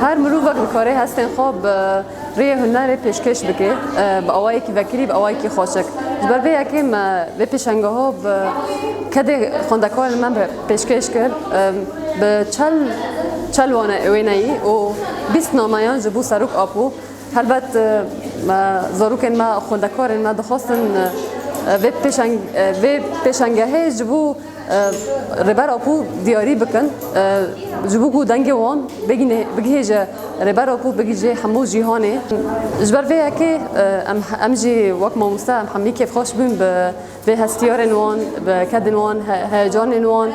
Her mirovek dikare hestên xwe bi rêyê hunerê pêşkêş bike, bi awayekî vekirî, bi awayekî xweşik. Ji ber vê yekê me vê pêşengeha bi kedê xwendekarên me re pêşkêş kir. Bi çel çel wane wêneyî û bîst nameyan ji bo Serok Apo. Helbet me zarokên me, xwendekarên me dixwestin vê pêşengehê ji bo Rêber Apo diyarî bikin ji bo ku dengê wan bigihêje Rêber Apo bigihîje hemû cîhanê. Ji ber vê yekê em jî wek mamoste em hemî kêfxweş bûn bi vê hestiyarên wan, bi kedên wan, heyecanên wan,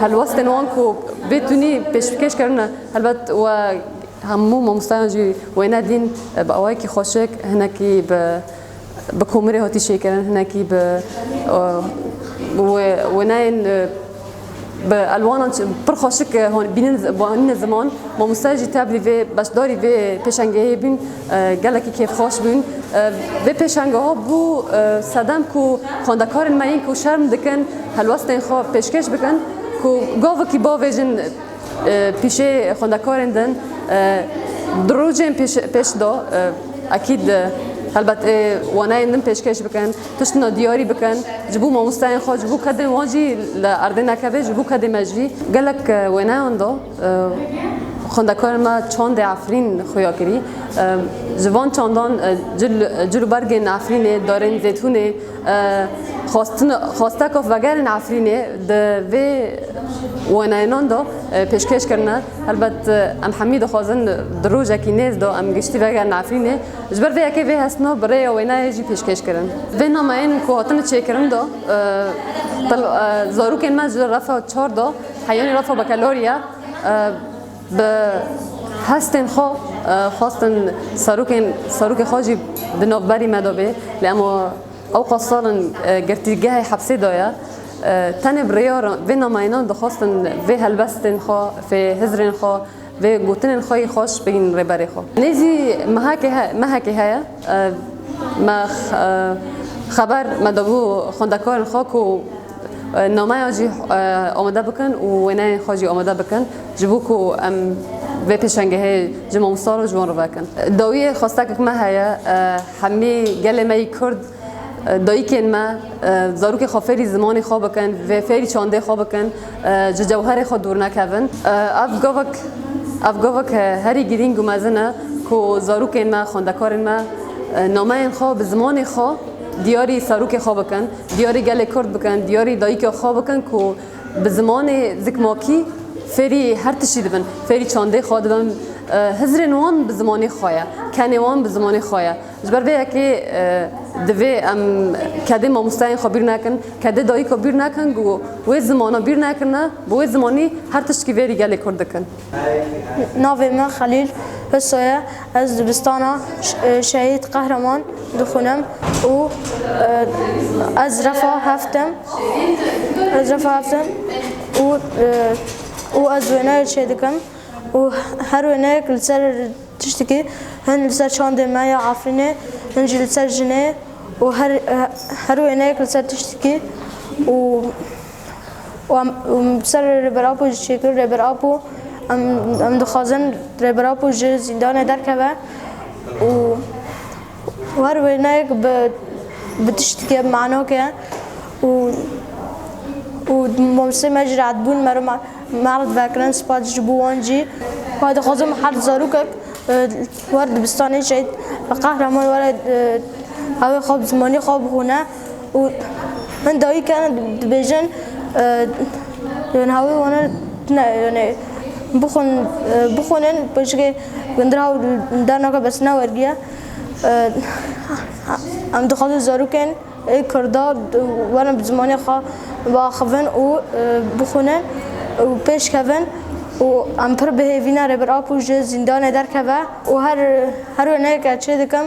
helwestên wan ku bê tunî pêşbikêş kirine. Helbet we hemû mamosteyan jî wêne dîn bi awayekî xweşik hinekî bi Bi komirê hatî çêkirin hinekî bi wenayên bi elwanan pir xweşik e, hon bînin anîne ziman mamoste jî teblî vê beşdarî vê pêşengehê bûn gelekî kêfxweş bûn vê pêşengeha bû sedem ku xwendekarên me yên ku şerm dikin helwestên xwe pêşkêş bikin ku gavekî bavêjin Pîşê xwendekarên din di rojên pêş de ekîd helbet ê waneyên din pêşkêş bikin, tiştina diyarî bikin ji bo mamosteyên xwe, ji bo kedên wan jî li erdê nekeve, ji bo kedê me jî. Gelek wêneyan de xwendekarên me çandê Efrîn xuya kirî. Ji van çandan cil û bergên Efrînê, darên zêtûnê. Xweste ku vegerên Efrînê di vê wêneyanan de pêşkêş kirine. Helbet em hemî dixwazin di rojekî nêz de em giştî vegerin Efrînê. Ji ber vê yekê vê hestina bi rêya wêneyê jî pêşkêş kirin. Vê nameyên ku hatine çêkirin de zarokên me ji refa çar de heyanî refa bekalalî ye. Bi hestên xwe xwestin serokên serokê xwe jî di navberî me de bê lê em ew qas sal in girtîgehê hepsê de ye. Tenê bi rêya vê nameyanan dixwestin vê helbestên xwe, vê hizrên xwe, vê gotinên xwe yî xweş bigihînin rêberê xwe. Nêzî mehekê mehekê heye. Ev me xeber me dabû xwendekarên xwe ku nameya jî amade bikin û wêneyên xwe jî amade bikin ji bo ku em vê pêşengehê ji mamosta re ji wan re vekin. Dawiyê xwestekek me heye, hemî gelê me yî kurd dayikên me zarokê xwe fêrî zimanê xwe bikin, fêrî çandê xwe bikin. ji cewherê xwe dûr nekevin. Ev govek ev govek herî girîng û mezin e ku zarokên me, xwendekarên me nameyên xwe bi zimanê xwe diyarî serokê xwe bikin, diyarî gelê Kurd bikin, diyarî dayika xwe bikin ku bi zimanê zikmakî fêrî her tiştî dibin, fêrî çandê xwe dibin. Hizirên wan bi zimanê xwe ye, kenê wan bi zimanê xwe ye. Ji ber vê yekê divê em kedê mamosteyên xwe bîr nekin, kedê dayîk xwe bîr nekin ku wê zimana bîr nekirine, bi wê zimanî her tiştî vêrî gelê Kurd dikin. Navê min Xelîl Huso ye. Ez dibistana Şehîd Qehreman dixwînim û ez refa heft im. Ez refa heft im û û ez wêneyê çêdikim û her wêneyek li ser Tiştekî hin li ser çandê me ya Efrînê, hin jî li ser jinê û her wêneyek li ser tiştekî û em li ser Rêber Apo jî çêkir. Rêber Apo em dixwazin Rêber Apo ji zîndanê derkeve û Her wêneyek bi bi tiştike manok e û û mamosteyê me jî rehet bûn me re mard vekirin spas ji bo wan jî. Xwedê dixwazim her zarokek li war dibistanê şehîd Qehreman were ew ê xwe bi zimanê xwe bixwîne. û hin dayîk e dibêjin yonê hawê wan e tune yonê bixwin bixwînin bi jikê gundira û derneke bersîna wergiye em dixwazin zarokên ê kurda werin bi zimanê xwe biaxivin û bixwînin û pêş kevin û em pir bihêvîne Rêber Apo ji zîndanê derkeve û her her wêneyeke çê dikim.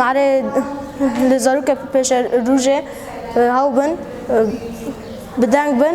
Mare li zarokek ku pêşer rûjê haw bin bi deng bin.